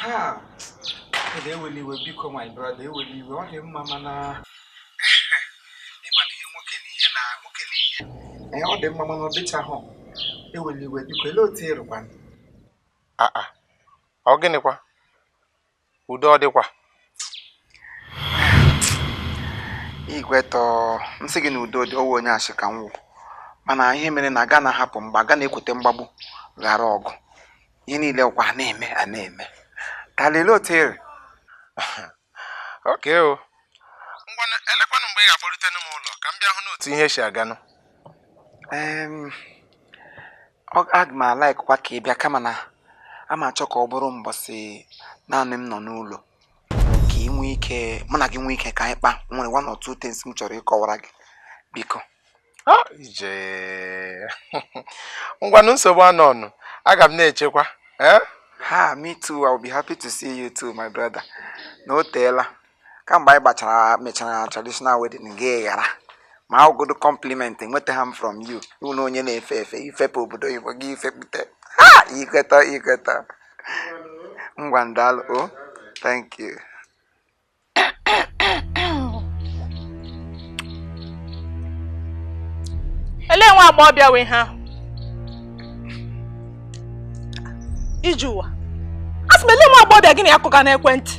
ha ede ewele iwe biko my brother ewele iwe ọ dị mma mana ịmana ihe nwoke na ihe na nwoke na ihe ee ọ dị mma mana ọ dịchahụ ewele iwe biko ele otu i rikwa aa ọ gịnịkwa udo ọ dịkwa igwetọ m sị gị na udo dị ọ wụ onye asị ka m wụ mana ihe mere na aga na-ahapụ mgbe aga na-ekwute mgbagbu ghara ọgụ ihe niile ọkwa a na-eme a na-eme ka lele otu i ri okay o ngwanụ elekwanụ mgbe ị ga-akpọrutenu m ụlọ ka m bịa hụnụ otu ihe si aganụ Em, ọ- aga m a-likekwa ka ị bịa kama na a ma achọ ka ọ bụrụ mbọsị naanị m nọ n'ụlọ ka ị nwee ike mụ na gị nwee ike ka anyị kpaa nwere one or two things m chọrọ ịkọwara gị biko ngwanụ nsogbu anọọnụ aga m na-echekwa eh? ha me too i will be happy to see you too my brother na o teela kamgbe anyị gbachara mechara traditional wedding gị ghara ma ọ bụgodu compliment enwetaha m from you ị wụnụ onye na-efe efe ifepe obodo oyibo gị ifepụta ha ikweta ikweta ngwanụ daalụ o oh, thank you ele nwa agbọghọbịa wụ ihe ahụ Ijeụwa a sị m ele nwa agbọghọbịa gị na ya kụga n'ekwentị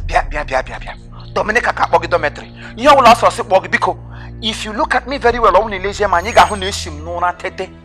bịa bịa bịa bịa bịa Dominica ka akpọ gị dormitory ihe ọbụla ọ sọ ọ sị kpọọ gị biko if you look at me very well ọ bụ na i lezie m anya ị ga-ahụ na esi m n'ụra tete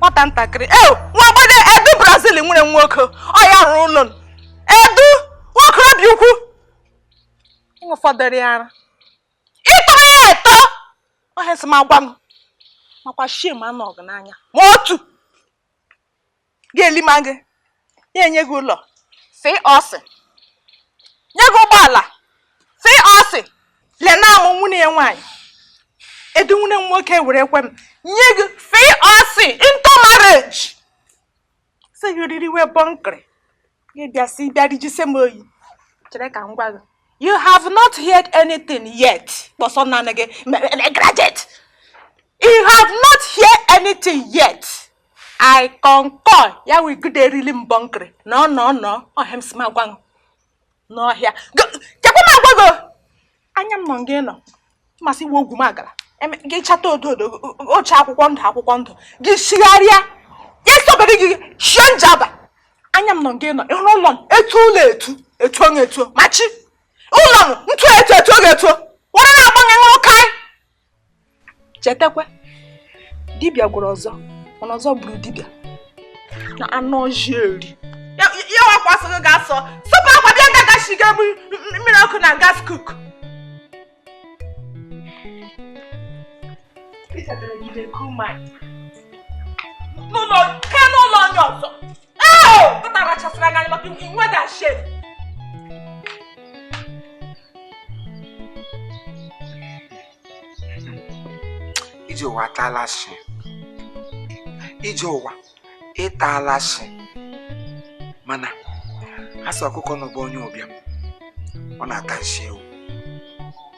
nwata ntakịrị e nwa agbọghọ edu brazil nwere nwoke ọ ya rụrụ ụlọ edu nwaokorobịa ukwu ụfọdụrụ ya ara ị tọrọ ya atọ ọ ihe si m agwa m makwa shame anọọ gị n'anya ma otu ga-elima gị ya enye gị ụlọ FOC nye gị ụgbọala FOC lee na mụ nwanne ya nwaanyị edu nwanne m nwoke ewerekwa m nye gị FOC into marriage sị gị riri wee bọnkịrị ịbịa si ịbịa rijise m oyi chere ka m gwa gị you have not heard anything yet kpọsọ naanị gị graduate you have not heard anything yet i concur ya wee gide erili mbọ nkiri no no no ọ ihe m si m agwa n'ọhịa chekwa m agwa gị anya m nọ nga ịnọ masị gị wụ ogwumagala gị chata odo odo ị chaa akwụkwọ ndụ akwụkwọ ndụ gị chigharịa ya sọbere gị shie njaba anya m nọ nga ịnọ ịhụrụ ụlọ m etu ụlọ etu etu onye etu machi ụlọ m ntu etu etu oge etu were na-agbanwe nwoke anyị chetakwa dibịa gwọrọ ọzọ mana ọzọ gburu dibịa na anụ ọjị eri ya wakwa asọ gị ga-asọ sọpụ akwa bịa ga gashiga mmiri ọkụ na gas cook n'ụlọ nke n'ụlọ onye ọzọ ije ụwa ataala shi ije ụwa ịtaala shi mana a sị ọkụkọ nọ be onye ụbịam ọ na-ata nshi ewu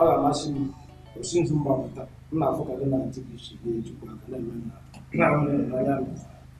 ọ ga-amasị m o si nzu m gbapụta m na-afụ ka gị na ntị gị si na-ejikwa aka na-eme na na-ahụ n'anya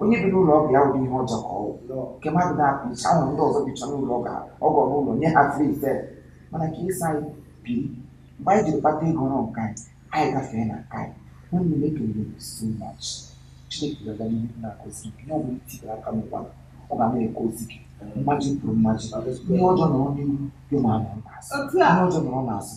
onye bi n'ụlọ ọgọ ya wụrụ ihe ọjọọ ka ọ wụ nke mmadụ na-apụ iche ahụ ndị ọzọ bicha n'ụlọ ọgọ ọgọ n'ụlọ nye ha free fe mana ka isi anyị biri mgbe anyị jiri kpata ego rụọ nke anyị anyị gafee na nke anyị nwanne m ekelere m so much chineke ga-aga n'ihu na-agọzi gị ihe ọbụla i tibere aka n'ụkwa ọ ga na-agọzi gị mmaji kwuru mmaji ihe ọjọọ nọrọ n'ihu gị anọrọ n'azụ ihe ọjọọ nọrọ n'azụ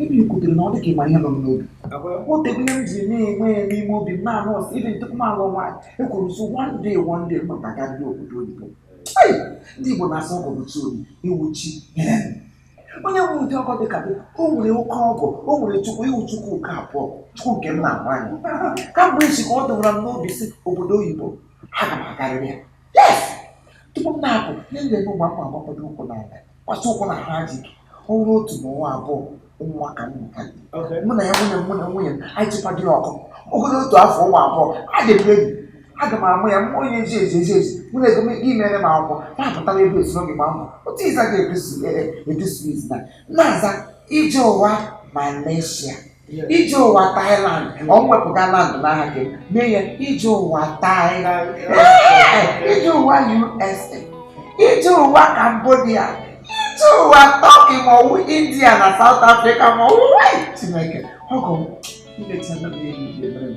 Ebe i kwutere na ọ dị ka ị ma ihe nọ m n'obi. O tegbuola m ji na-enwe ya n'ime obi m na-anụ ọsọ even tupu m alụ nwaanyị. Ekwuru m sị one day one day m ga-agarịrị obodo oyibo. Ndị Igbo na-asị ọgọ bụ chi obi, ị wụ chi. onye nwe ụdị ọgọ dịka gị o nwere oke ọgọ o nwere chukwu ị wụ chukwu nke abụọ chukwu nke m na-ahụ anya kamgbe isi ka ọ dọwara m n'obi sị obodo oyibo aga m agarịrị ya tupu m na-apụ ihe m ga-eme mgbe m agbapụta ụkwụ n'ala kwasị ụkwụ na ha ji gị ọnwa otu na ọnwa abụọ nwa ka m nka mụ na ya nwunye mụ na nwunye m anyị chịkwadịrị ọkụ ogologo otu afọ ụmụ abụọ adịrị enyi aga m amụ ya mmụọ ya eji eji eji eji mụ na ọgọ m gị mere m akwụkwọ na-apụtara ebe esi n'oge gbaa mbọ otu ịza ga-edusu edusu izi na na-aza ije ụwa Malaysia ije ụwa Thailand ọ wepụga land n'aha gị mee ya ije ụwa Thailand Ee, ije ụwa USA ije ụwa Cambodia ije ụwa Turkey ma ọ wụ India na South Africa ma ọ wụ Chineke ọgọ m i mechana m ihe niile mere m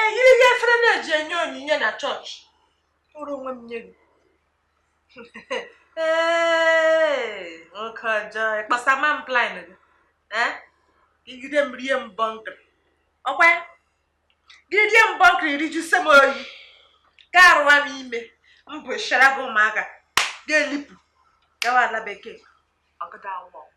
eyiri ihe efere na-eji enye onyinye na chọọchị kpụrụ onwe m nye gị nwoke ọjọọ ịkpasa ama m plan gị igide m rie m bọnkịrị ọkwa gị rie m bọnkịrị rijuse m oyi gị arụwa m ime m mụchara gị ụmụaka gị elipụ gawa ala bekee ọ gada work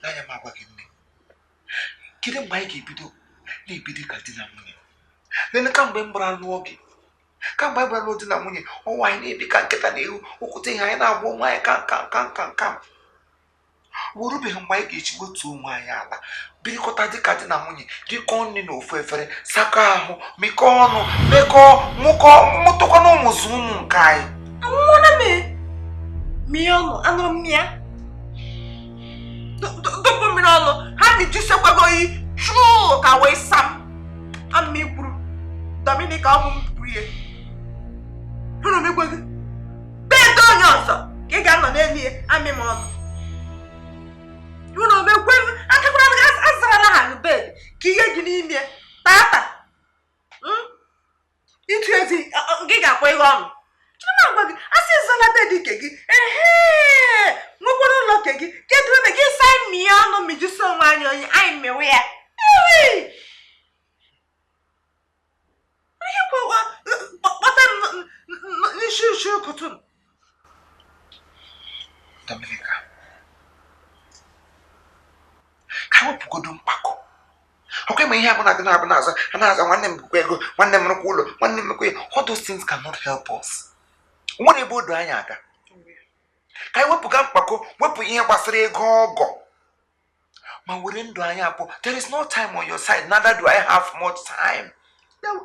n'anya m agwa gị nne kedu mgbe anyị ga-ebido na-ebi dịka di na nwunye nene kamgbe m gbara lụọ gị kamgbe anyị gbara lụọ di na nwunye ọnwa anyị na-ebi ka nkịta na ewu okwute ihe anyị na-agba onwe anyị ka nka nka nka nka o rubeghị mgbe anyị ga-eji wetuo onwe anyị ala birikọta dịka di na nwunye rikọọ nri na ofu efere sakọọ ahụ mịkọọ ọnụ mekọọ mụkọ mụtụkọ na ụmụ zụ ụmụ nke anyị anwụọna m mie ọnụ anụrụ m ya dọbụ mmiri ọnụ ha mịjusekwago oyi chụụ ka wee sam ama m i kwuru Dominic ọ bụ mpụ ihe hụrụ m igwe gị bed onye ọzọ ka ị ga-anọ n'elu ya amị m ọnụ ụlọ mekwe m akakwara m azarala ha bed ka ihe dị n'ime tata hmm? ịtụ ezi gị ga-akwa ihe ọnụ chima gwa gị asị zala bed nke gị ehe nwekwara ụlọ nke gị kedu ebe gị si amị ya ọnụ mịjuse onwe anyị oyi anyị mewe ya ihe kwekwa kpọta n'isi isi ụkụtụ Dominica ka wepụgodo mkpako ọkwa ịma ihe abụla gị na-abụ na-aza a na-aza nwanne m bụkwa ego nwanne m rụkwa ụlọ nwanne m mekwa ya all those things cannot help us nwere ebe o du anyị aga ka anyị wepụga mkpako wepụ ihe gbasara ego ọgọ ma were ndụ anyị abụọ there is no time on your side neither do I have much time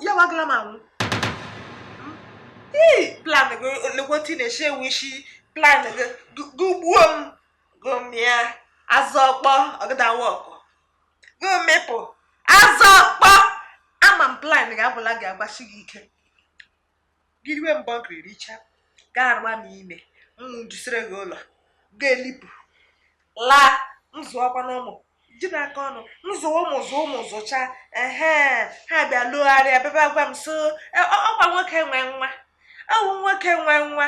ya wagala m anwụ plan gị nnukwu otu na-eche ewu isi plan gị gụ gbuo m gụ mịa azụ ọkpọ ọ gada work gụ mịpụ azụ ọkpọ ama m plan gị abụla gị agbasi gị ike gị riwe m bọnkịrị richa gị arụwa m ime m mụjusiere gị ụlọ gị elipụ laa m zụọkwanụ ụmụ ji n'aka ọnụ m zụ ụmụ zụ ụmụ zụcha ehe ha bịa lọgharịa bịa ebe a gwa m so e, ọkwa nwoke nwe nwa ọ wụ nwoke nwe nwa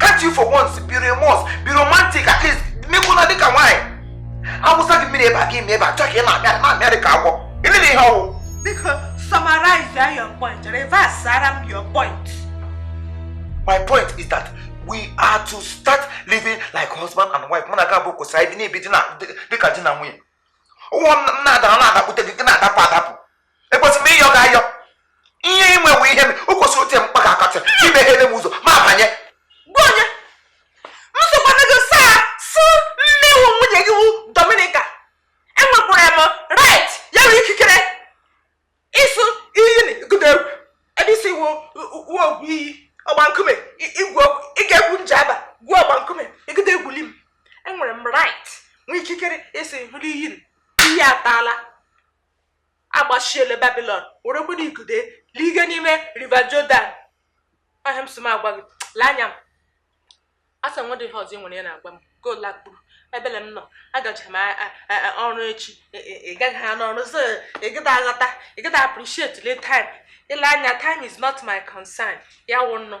can't you for once be remorse be romantic at least mekwana dịka nwaanyị awụsa gị mmiri ebe a gị ime ebe a chọọ ka ị na-amịarị na-amịarị ka agwọ ịlele ihe ọwụ biko summarize your point reverse ara m your point my point is that we are to start living like husband and wife mụ na gị abụọ kwesịrị ibi na-ebi dịka di na nwunye ụwa m na-ada na-adakute gị na-adapụ adapụ ekwesịrị m ịyọ gị ayọ ihe inwewe ihe m o kwesịrị ote mkpa ga akọtị imeghele m ụzọ m abanye gwa onye m sokwana gị saa sụ mmewu nwunye gị wu dominika enwekwara m right ya bụ ikikere ịsụ iyi na igudo egwu ebe isi wu uwe ogwu iyi ọgba nkume i- igwu okwu ị ga-egwu njaba gwuo ọgba nkume igudo egwuli m enwere m right nwee ikikere ịsị hụrụ iyi n- iyi ataala agbachiele babylon werekwena ikude lige n'ime river jordan ọ ha m sị m agwa gị lee anya m asa nwa dị ihe ọzọ ị nwere ya na-agwa m gola kpuru ebele m nọ agacha m ọrụ echi e, e, ị gaghị ha n'ọrụ so ị gịda aghọta ị gịda appreciate le time ile anya time is not my concern ya wụ nnọọ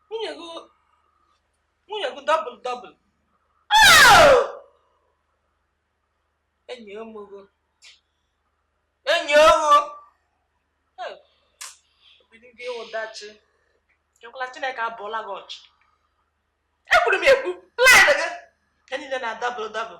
nwunye gị nwunye gị double double enyi omogo enyi ogo obido gị ụdachi ekwela chineke abụọla gị ọchị ekwuru m ekwu plan gị ka niile na-adouble double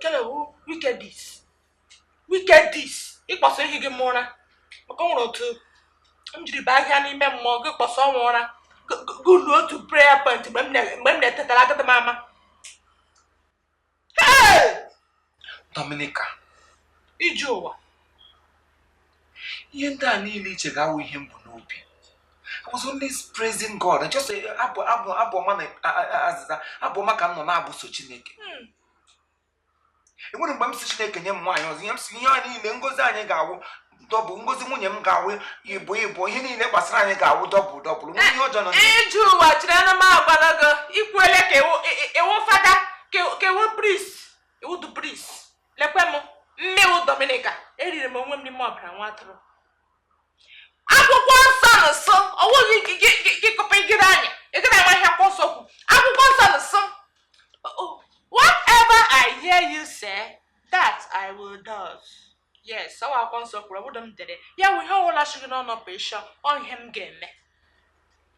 kele wụ wickedness wickedness ịkpọsa ihe gị m ụra maka ọ nwere otu m jiri baa ahịa n'ime mmụọ gị kpọsa ọnwa ụra gụlụ otu prayer point mgbe m na-etetara agada m ama Dominica, Ije ụwa ihe ndị a niile i che ga-awụ ihe m bu n'obi I was only praising God just abụ abụ abụ ọma na azịza abụ ọma ka m nọ na-abụso Chineke hmm. enwere mgbe m sị Chineke nye m nwaanyị ọzọ ihe m sị ihe a niile ngozi anyị ga-awụ double ngozi nwunye m ga-awụ ịbụọ ịbụọ ihe niile gbasara anyị ga-awụ double double nwunye ihe ọjọọ nọ ije ụwa chiri anụ m agwala gị ikwuele ka ị wụ fada ka ị wụ priest ị wụ du priest lekwe m mmewu dominika eriri m onwe m n'ime ọbara nwa atụrụ akwụkwọ nsọ na nsọ ọwụghị gị kọpa igide anya ị gara ama ihe akwụkwọ nsọ kwu akwụkwọ nsọ na nsọ whatever i hear you say that i will do yes ọ bụ akwụkwọ nsọ kwuru ọ bụdụ m dere ya wụ ihe ọwụla si gị n'ọnụ pụsha ọ ihe m ga-eme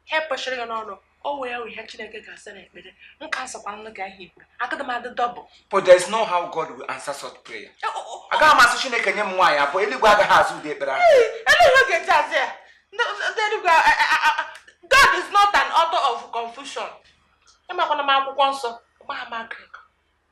ihe pụshịrị gị n'ọnụ ọ wụ ya ihe chineke ga-asa n'ekpere m ka asakwa nlụ gị ahịa ikpere agadị m adị double but there is no how God will answer such prayer eh, oh, oh, oh. agaghị m asị chineke nye m nwaanyị abụọ eluigwe agaghị aza ụdị ekpere ahụ eluigwe ga-eji aza ya ndị eluigwe God is not an author of confusion ịmakwana m akwụkwọ nsọ gbaa m akụkọ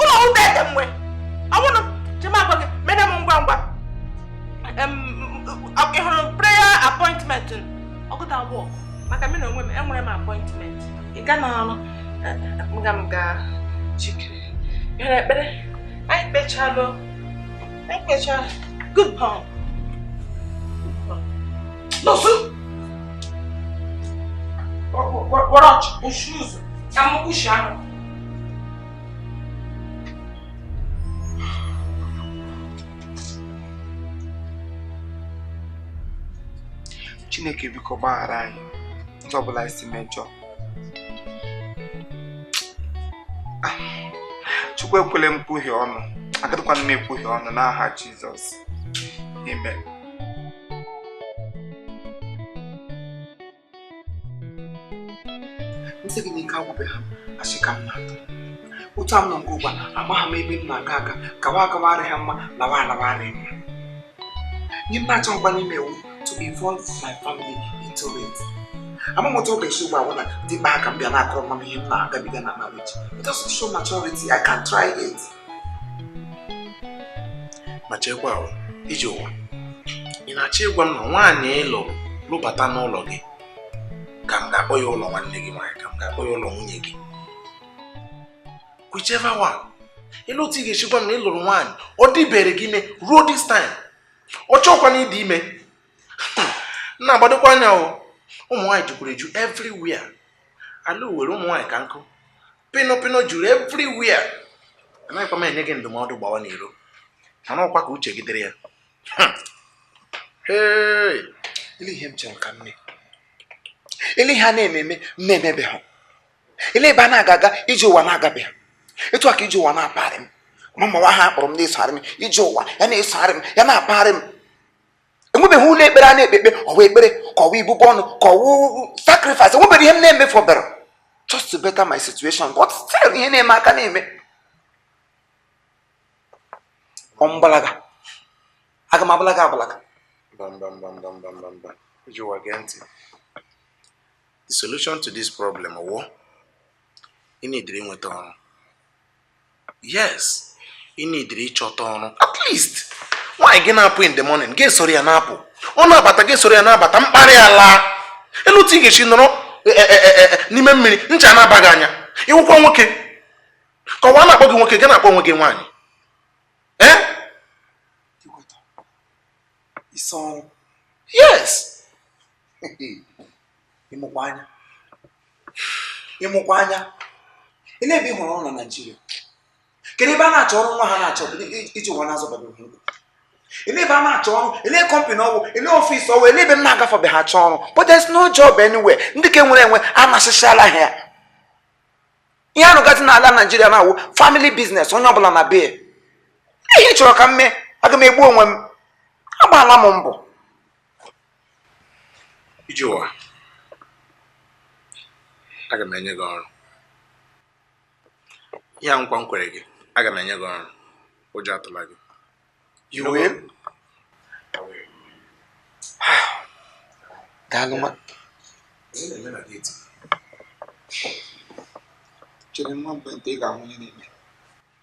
ụlọ ụta ete mgbe ọbụrụ chima gwa gị mene m ngwa ngwa ị hụrụ prayer appointment ọgụta abụọ maka m na onwe m enwere m appointment ịga n'ọrụ nga m ga jikere bịara ekpere anyị kpechalụ anyị kpechaa good bond nọsụ kpọrọ ọchị kwụsị ụzọ ka m kwụsị ahụ chineke biko gbaghara anyị ụzọ ọbụla anyị si mejọ ah, chukwu ekwele m kwuhie ọnụ agadịkwana m ekwuhie ọnụ n'aha jizọs amen m sị gị n'ike agwụbeghị m asị ka m na-atụ otu a m nọ nke ugbu a amagha m ebe m na-aga aga gawa agawa arịghị mma lawa alawa arịghị mma ihe m na-achọghịkwanụ ime wụ to involve my family into it ama m otu ọ ga-esi ugbu a na dị mkpa ka m bịa na-akọrọ mma m ihe m na-agabiga na marriage it doesn't show maturity I can't try it ma chekwa ije ụwa ị na-achọ ịgwa m na nwaanyị ị lụ lụbata n'ụlọ gị ka m ga-akpọ ya ụlọ nwanne gị nwaanyị ka m ga-akpọ ya ụlọ nwunye gị whichever one ile otu ị ga-eshi gwa m na ị lụrụ nwaanyị ọ dịbere gị ime ruo this time ọ chọọkwa na ịdị ime na-agbadokwa anya ụmụ nwaanyị jukwuru eju everywhere ala were ụmụ nwaanyị ka nkụ pino pino juru everywhere anaghịkwa m enye gị ndụmọdụ gbawa n'iro mana ọkwa ka uche gị dịrị ya ile ihe m chere ka m mee ile ihe a na-eme eme m na-emebeghị ile ebe a na-aga aga ije ụwa na-agabeghị etu a ka ije ụwa na-apagharị m ama m ma ọ wụ aha a kpọrọ m na-esogharị m ije ụwa ya na-esogharị m ya na-apagharị m enwebeghị ụlọ ekpere a na-ekpe ekpe ọwa ekpere ka ọwa ibubo ọnụ ka ọwa sacrifice enwebeghị ihe m na-emefu ọbara just to better my situation but still ihe na-eme aka na-eme ọmgbalaga aga m agbalaga agbalaga mbambambambambamba iji ụwa gee ntị the solution to this problem wụ ịnidiri nweta ọrụ yes ị needịrị ịchọta ọrụ at least nwaanyị gị na-apụ in the morning gị esoro ya na-apụ ọ na-abata gị esoro ya na-abata mkparị alaa elee otu ị ga-esi nọrọ e, e, e, n'ime mmiri ncha na-aba gị anya ị wụkwa nwoke ka ụwa na-akpọ gị nwoke gị na-akpọ onwe gị nwaanyị yes ị mụkwa anya ị mụkwa anya ele ebe ị hụrụ ọrụ na naijiria kedu ebe a na-achọ ọrụ nwa ha na-achọ ijeụwa na-azọbabeghị ụkwụ ele ebe a na-achọ ọrụ ele kọmpanị ọ wụ ele ọfịs ọ wụ ele ebe m na-agafebeghị achọ ọrụ but there's no job anywhere ndị ka nwere enwe anasịsịala ha ya ihe a rụgazi n'ala naijiria na-awụ family business onye ọbụla na be ihe ị chọrọ ka m mee aga m egbu onwe m agbaala m mbọ ijeụwa aga m enye gị ọrụ ihe nkwa m kwere gị aga m enye gị ọrụ ụjọ atụla gị you will daalụ nwa chere nwa mgbe nta ị ga-ahụ onye na-eme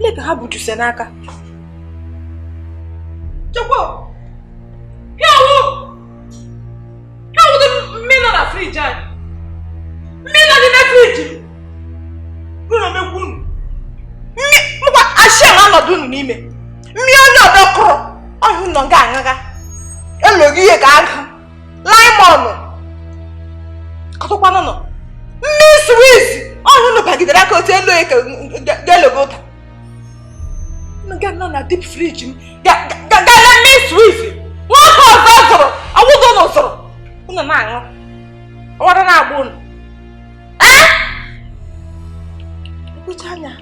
Lee ka ha bu juice n'aka. Chekwa! Ya wụ! Ya wụ dị mmiri nọ na friji anyị. Mmiri nọ n'ime friji m. Unu omegbu unu. Mmiri, mụkwa ashị a na-anọdụ unu n'ime. Mmiri onye ọdọ kuru, ọ ya unu nga aṅụga. Elo gị ihe ka agụ. laimọnụ kọtụkwanụnụ mmiri swiz ọ ya unu bagidere aka otu elu eke ga-elogo ụta unu ga nọ na dip friji m ga-ala mmiri swiz nwoke ọzọ zụrụ ọ wụdị unu zụrụ unu na-aṅụ ọ wụ ara na-agba unu ee mkpecha anya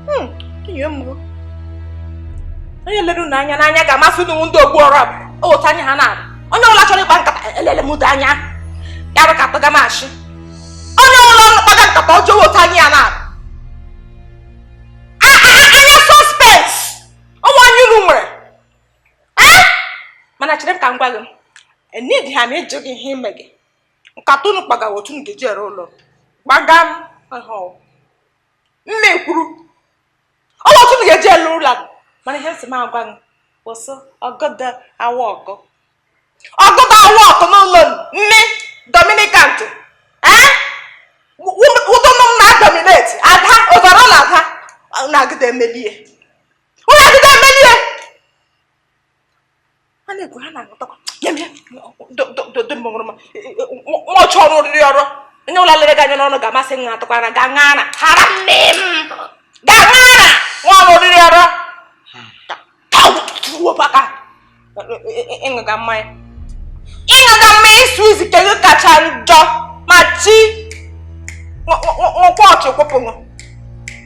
hmm, ihe mụrụ onye lere unu anya n'anya ga-ama sị unu ndị ogbu ọrụ otu anya ha na-abụ onye ọbụla chọrọ ịkpa nkata elele m anya ya bụ ka kpaga m ashị onye ọbụla ọrụ kpaga nkata ọjọọ otu anya ya na-abụ anya suspect ọ wụ anya unu nwere mana chere m ka m gwa gị enidi ha m ịjụ gị ihe ime gị nkata unu kpaga wụ otu unu ga-eji ere ụlọ gbagha m nne kwuru ọ wụ otu unu ga-eji ere ụlọ mana ihe m sị m agwa gị bụ sị ọgọdọ awa ọkọ ọgọdọ awa ọkọ n'ụlọ nne dominican tụ ee ụtọ nọ m na dominate ada ụzọrọ na ada unu agịda emelie unu agịda emelie ha na-ekwu ha na-aghọtakwa nwaọchị ọrụ oriri ọrụ onye ụlọ lere gị anya n'ọnụ ga-amasị nwa atụkwara ga ṅara hara nne m ga ṅara nwa ọrụ oriri ọrụ aka ịṅụga mmanya ịṅụga mmanya isi izi nke gị kacha njọ ma chi nkwụ ọchị kwụpụṅụ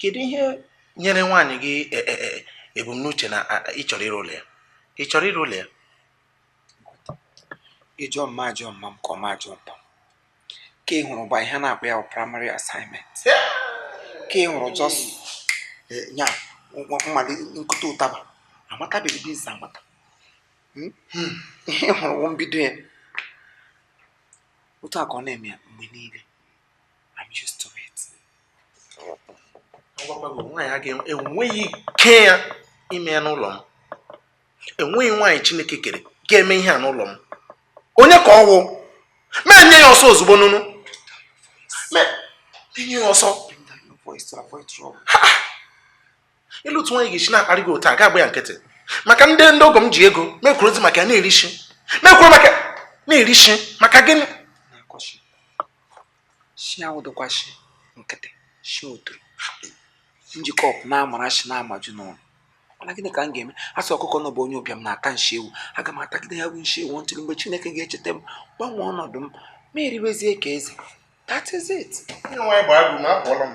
kedu ihe nyere nwaanyị gị e, e, e, ebumnuche na ị chọrọ ịrụ ụlọ ya ị chọrọ ịrụ ụlọ ya ị jụọ m m ajụọ mma m ka ọ ma ajụọ mpa m ka ị hụrụ gba ihe a na-akpọ ya primary assignment ka ị hụrụ just ya mmadụ nkụta ụtaba amatabeghị business amata hmm? Hmm. ihe ị hụrụ bụ mbido ya otu a ka ọ na-eme ya mgbe niile I'm used to it. Agwakwago nwaanyị a ga-enweghị ike ya ime ya n'ụlọ m. Enweghị nwaanyị Chineke kere ga-eme ihe a n'ụlọ m. Onye ka ọ wụ? Mee nye ya ọsọ ozugbo nụnụ. Mee nye ya ọsọ. Elee otu nwaanyị ga-esi na-akparị gị otu a gị agba ya nkịtị. Maka ndị ndị ọgọ m ji ego mekwuru ozi maka ya na-eri shi. Mekwuru maka na-eri shi maka gịnị? Shi awụdịkwa shi nkịtị shi otoro m ji iko na-amara shi na-amaju n'ọnụ mana gịnị ka m ga-eme a sị ọkụkọ na ọ bụ onye ụbịam na-ata nshi ewu aga m atagide ya bụ nshi ewu ntụrụ mgbe chineke ga-echeta m gbanwee ọnọdụ m m eriwezie ka eze that is it Onye nwaanyị bụ agụ na apụọla m.